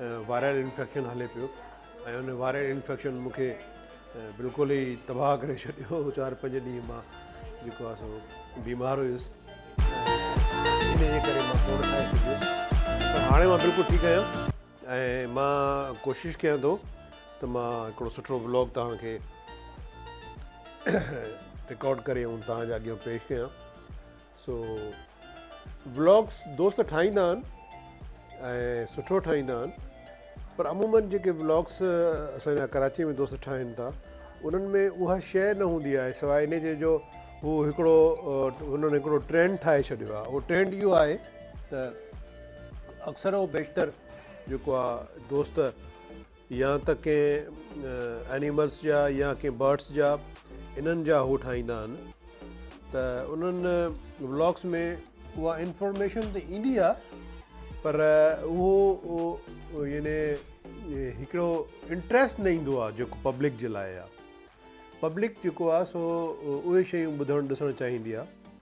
Viral infection هلي پيو ۽ ان وائرل انفيڪشن مون کي بلڪل ئي تباهه ڪري ڇڏيو چار پنج ڏينهن مان جيڪو آهي سو بيمار هيس هاڻي مان بلڪل ٺيڪ آهيان ۽ مان ڪوشش ڪيان ٿو ته مان هڪڙو سٺو بلاگ توهان کي رڪارڊ ڪري ۽ توهان جي اڳيان پيش ڪيان سو ولاگس دوست ٺاهيندا آهن ۽ سٺو ٺاهيندا آهن پر عموماً جيڪي ولاگس اسان جا ڪراچي ۾ دوست ٺاهين ٿا انهن ۾ اها شيء نه هوندي آهي سواء ان جي جو هو هڪڙو هنن هڪڙو ٽرينڊ ٺاهي ڇڏيو آهي اهو ٽرينڊ اهو آهي ته اڪثر او بيشتر جيڪو آهي دوست يا ته ڪنهن اينيملس جا يا ڪنهن برڊس جا انهن جا هو ٺاهيندا آهن ته انهن ولاگس ۾ اها انفارميشن ته ايندي آهي پر اهو يعني هڪڙو انٽريسٽ نه ايندو آهي جيڪو پبلڪ جي لاء آهي پبلڪ جيڪو آهي سو اهي شيون ٻڌڻ ڏسڻ چاهيندي آهي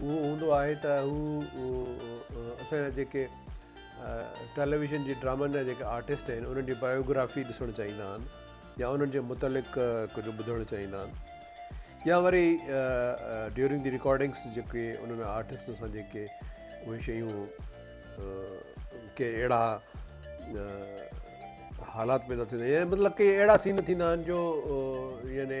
اهو هوندو آهي ته هو اسان جا جيڪي ٽيليويزن جي ڊرامن جا جيڪي آرٽسٽ آهن انهن جي بايوگرافي ڏسڻ چاهيندا آهن يا انهن جي متعلق ڪجهه ٻڌڻ چاهيندا آهن يا وري ڊيورنگ دي رڪارڊنگس جيڪي انهن آرٽسٽن سان جيڪي اهي شيون ڪي اهڙا حالات پيدا ٿيندا آهن مطلب ڪي اهڙا سين ٿيندا آهن جو يعني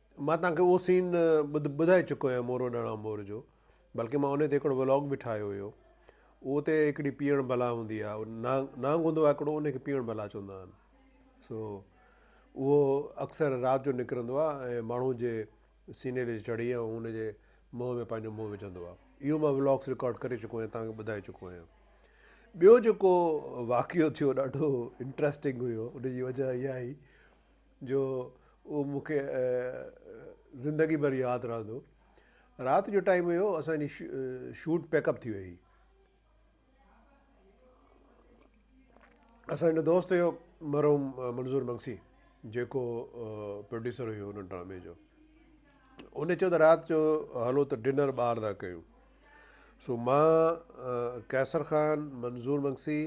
مان توهان کي اهو سين ٻڌائي چڪو آهيان مورو ڏاڻا مور جو بلڪه مان انهي تي هڪڙو ولاگ به ٺاهيو هيو اهو اتي هڪڙي پيئڻ بلا هوندي آهي نانگ نانگ هوندو آهي هڪڙو انهي کي پيئڻ بلا چوندا آهن سو اهو اڪثر رات جو نڪرندو آهي ۽ ماڻهو جي سيني تي چڙهي ۽ ان جي منهن ۾ پنهنجو منهن وجهندو آهي اهو مان ولاگس رڪارڊ ڪري چڪو آهيان توهان کي ٻڌائي چڪو آهيان ٻيو جيڪو واقعو ٿيو ڏاڍو انٽرسٽنگ هيو ان جي وجهه اها هئي جو اهو مون کي زندگي ڀر ياد رهندو. رات جو ٽائيم هيو اسان جي شوٽ پيڪ اپ ٿي وئي هئي. اسان جو هڪ دوست هيو مرحوم منظور مگسي جيڪو پروڊيوسر هيو ان ڊرامي جو. ان چيو ته رات جو هلو ته ڊنر ٻاهر ٿا ڪيون. سو مان قيصر خان، منظور مگسي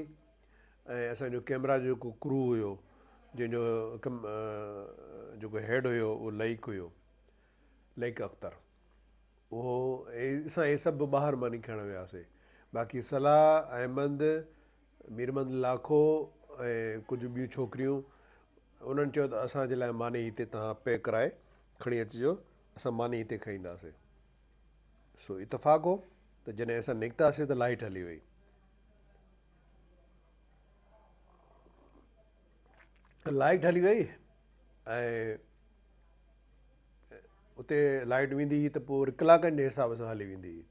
۽ اسان جو ڪيمرا جو جيڪو ڪرو هيو جنهن جو جيڪو هيڊ هيو اهو لئيڪ هيو لئيڪ اختر اهو اسان هي سڀ ٻاهر ماني کائڻ وياسي باقي صلاح احمد ميرمند لاکو ۽ ڪجهه ٻيون ڇوڪريون انهن چيو ته اسان جي لاء ماني هتي توهان پي ڪرائي کڻي اچجو اسان ماني هتي کائينداسي سو اتفاق هو ته جڏهن اسان نڪتاسي ته لائيٽ هلي وئي. لائٽ هلي وئي ۽ اتي لائٽ ويندي هئي ته پوء وري ڪلاڪن جي حساب سان هلي ويندي هئي.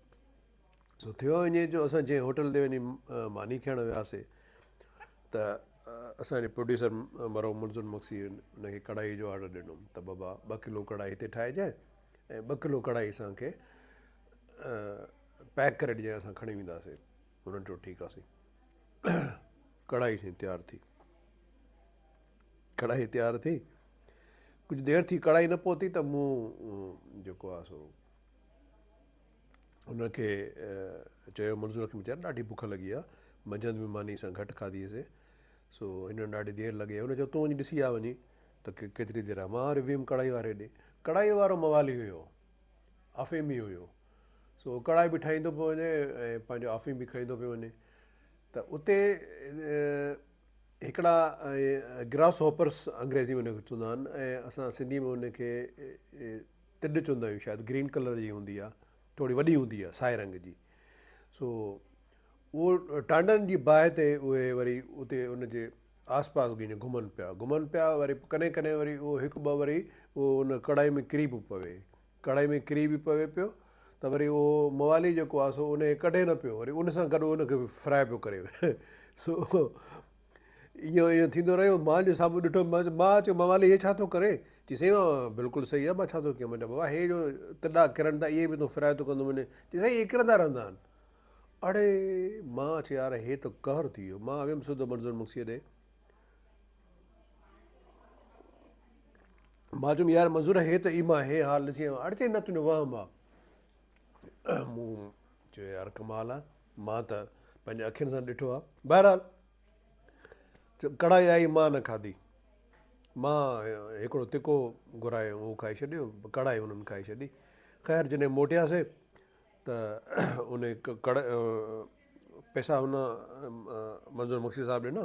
سو ٿيو ائين جو اسان جنهن هوٽل تي وڃي ماني کائڻ وياسي ته اسان جي پروڊيوسر مرحوم منظور مگسي ان کي ڪڙهائي جو آرڊر ڏنو ته بابا ٻه ڪلو ڪڙهائي هتي ٺاهجانء ۽ ٻه ڪلو ڪڙهائي اسان کي پيڪ ڪري ڏجانء اسان کڻي وينداسين. هن چيو ٺيڪ آ سائين. ڪڙاهي سائين تيار ٿي. ڪڙاهي تيار ٿي. ڪجهه دير ٿي ڪڙاهي نه پهتي ته مون جيڪو آ سو هن کي چيو منظور کي ويچاري ڏاڍي بک لڳي آ. منجهند به ماني سان گهٽ کاڌي سي. سو هن ڏاڍي دير لڳي آ. هن چيو تون وڃي ڏسي آ وڃي ته ڪيتري دير آ. مان وري ويم ڪڙاهي واري ڏي. ڪڙاهي وارو موالي هيو. افيمي هيو. سو هو ڪڙائي به ٺاهيندو پيو وڃي ۽ پنهنجو آفيم به کائيندو پيو وڃي ته اتي هڪڙا گراس هوپرس انگريزي ۾ ان کي چوندا آهن ۽ اسان سنڌي ۾ ان کي تڏ چوندا آهيون شايد گرين ڪلر جي هوندي آهي ٿوري وڏي هوندي آهي سائي رنگ جي سو اهو ٽانڊن جي باهه تي اهي وري اتي ان جي آس پاس ڪيئن گهمن پيا گهمن پيا وري ڪڏهن ڪڏهن وري اهو هڪ ٻه وري اهو ان ڪڙائي ۾ ڪري به پوي ڪڙهائي ۾ ڪري به پوي پيو ته وري اهو موالي جيڪو آهي سو انهيء ڪڍي نه پيو وري ان سان گڏ ان کي به فرائي پيو ڪري سو اهو ايئن ٿيندو رهيو مان جو سامهون ڏٺو مان چيو مان چيو موالي هي ڇا ٿو ڪري چي سائين اهو بلڪل صحيح آهي مان ڇا ٿو ڪيان منهنجا بابا هي جو تڏا ڪرن ٿا اهي به تون فرائي ٿو ڪندو وڃين چي سائين اهي ڪرندا رهندا آهن اڙي مان چيو يار هي ته قهر ٿي ويو مان ويم سڌو منظور مگسيء ڏي مان چيم يار منظور هي ته ايما هي حال ڏسي آيو اڙ چئي نه تنهنجو وهم آ مون چيو يار ڪمال آ مان ته پنهنجي اکين سان ڏٺو آ بهرحال ڪڙائي آئي مان نه کاڌي مان هڪڙو تکو گهرايم اهو کائي ڇڏيو ڪڙائي هنن کائي ڇڏي خير جڏهن موٽياسي ته انهي ڪڙ پئسا هن منظور مگسي صاحب ڏنا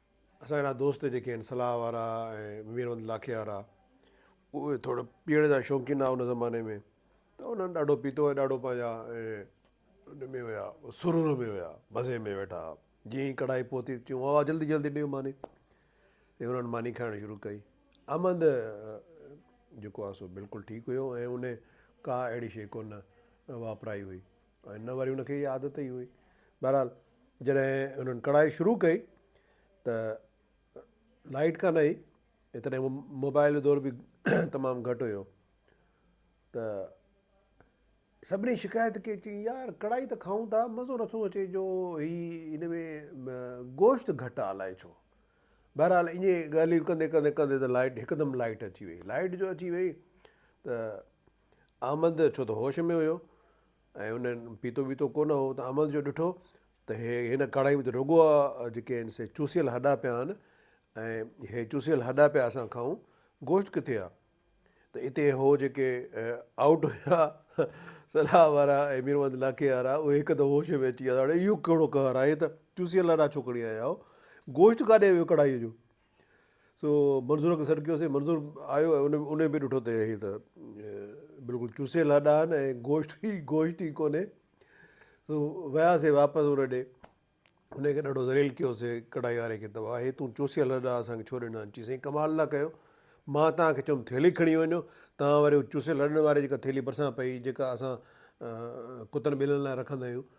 اسان جهڙا دوست جيڪي آهن صلاح وارا ۽ ميربند لاکي وارا اهي ٿورڙ پيئڻ جا شوقين هئا ان زماني ۾ ته انهن ڏاڍو پيتو ۽ ڏاڍو پنهنجا ان ۾ هيا سرور ۾ هيا مزي ۾ ويٺا هئا جيئن ئي ڪڙهائي پهتي چيون واوا جلدي جلدي ڏيو ماني ۽ انهن ماني کائڻ شروع ڪئي امند جيڪو آهي سو بلڪل ٺيڪ هيو ۽ انهن ڪا اهڙي شيء ڪونه واپرائي هئي ۽ نه وري هن کي اها عادت ئي هئي. بهرحال جڏهن هنن ڪڙهائي شروع ڪئي ته لائيٽ ڪانه هئي ۽ تڏهن موبائيل جو دور به تمام گهٽ هيو ته سڀني شڪايت ڪئي چئي يار ڪڙهائي ته کائون ٿا مزو نٿو اچي جو هي ان ۾ گوشت گهٽ آ الائي ڇو. بهرحال ائين ڳالهيون ڪندي ڪندي ڪندي ته لائيٽ هڪدم لائيٽ اچي وئي. لائيٽ جو اچي وئي ته احمد ڇو ته هوش ۾ هيو ۽ هن پيتو ويتو ڪونه هو ته احمد جو ڏٺو ته هي هن ڪڙهائي ۾ ته رڳو آ جيڪي آهن سي چوسيل هڏا پيا آهن ۽ هي چوسيل هڏا پيا اسان کائون گوشت ڪٿي آ ته اتي هو جيڪي آئوٽ هيا صلاح وارا ۽ ميرمحمد لاکي وارا اهي هڪ ته هوش ۾ اچي ويا اهو ڪهڙو قهر آهي ته چوسيل هڏا ڇو کڻي آيا آهيو گوشت ڪاڏي ويو ڪڙهائي جو سو منظور کي سڏ ڪيوسين منظور آيو ۽ ان به ڏٺو ته هي ته بلڪل چوسيل هڏا آهن ۽ گوشت ئي گوشت ئي ڪونهي سو وياسين واپس ان ڏي ان کي ڏاڍو ذليل ڪيوسي ڪڙهائي واري کي ته واهه هي تون چوسيل هڏا اسان کي ڇو ڏنا آهن چيسين ڪمال ٿا ڪيو مان توهان کي چيم ٿيلهي کڻي وڃو توهان وري چوسيل هڏن واري جيڪا ٿيلهي ڀرسان پئي جيڪا اسان ڪتن ٻلين لاء رکندا آهيون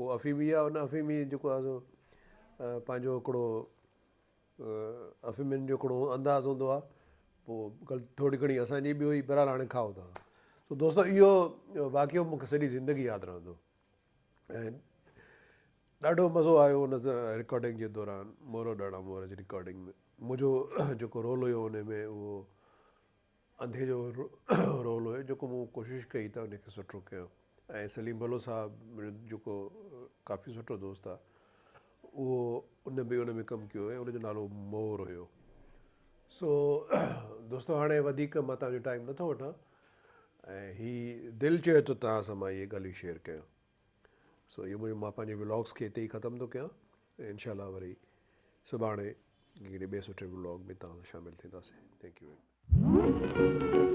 هو افيمي يا ان افيمي جيڪو آهي سو پنهنجو هڪڙو افيمين جو هڪڙو انداز هوندو آهي پوء غلطي ٿورڙي گهڻي اسان جي به هئي بهرحال هاڻي کائو توهان سو دوستو اهو واقعو مونکي سڄي زندگي ياد رهندو ۽ ڏاڍو مزو آيو ان رڪارڊنگ جي دوران مورو ڏاڙا مور جي رڪارڊنگ ۾ منهنجو جيڪو رول هيو ان ۾ اهو انڌي جو رول هيو جيڪو مون ڪوشش ڪئي ته ان کي سٺو ڪيان ۽ سليم بلوچ صاحب منهنجو جيڪو ڪافي سٺو دوست آهي اهو ان به ان ۾ ڪم ڪيو هيو ان جو نالو مور هيو سو دوستو هاڻي وڌيڪ مان تهانجو ٽائيم نٿو وٺان ۽ هي دل چيو ته تهان سان مان اهي ڳالهيون شيئر ڪيان سو اهو مون مان پنهنجي ولاگز کي هتي ئي ختم ٿو ڪيان ۽ انشاء الله وري سڀاڻي ڪهڙي ٻئي سٺي ولاگ ۾ توهان سان شامل ٿينداسين ٿينڪ يو ويري مچ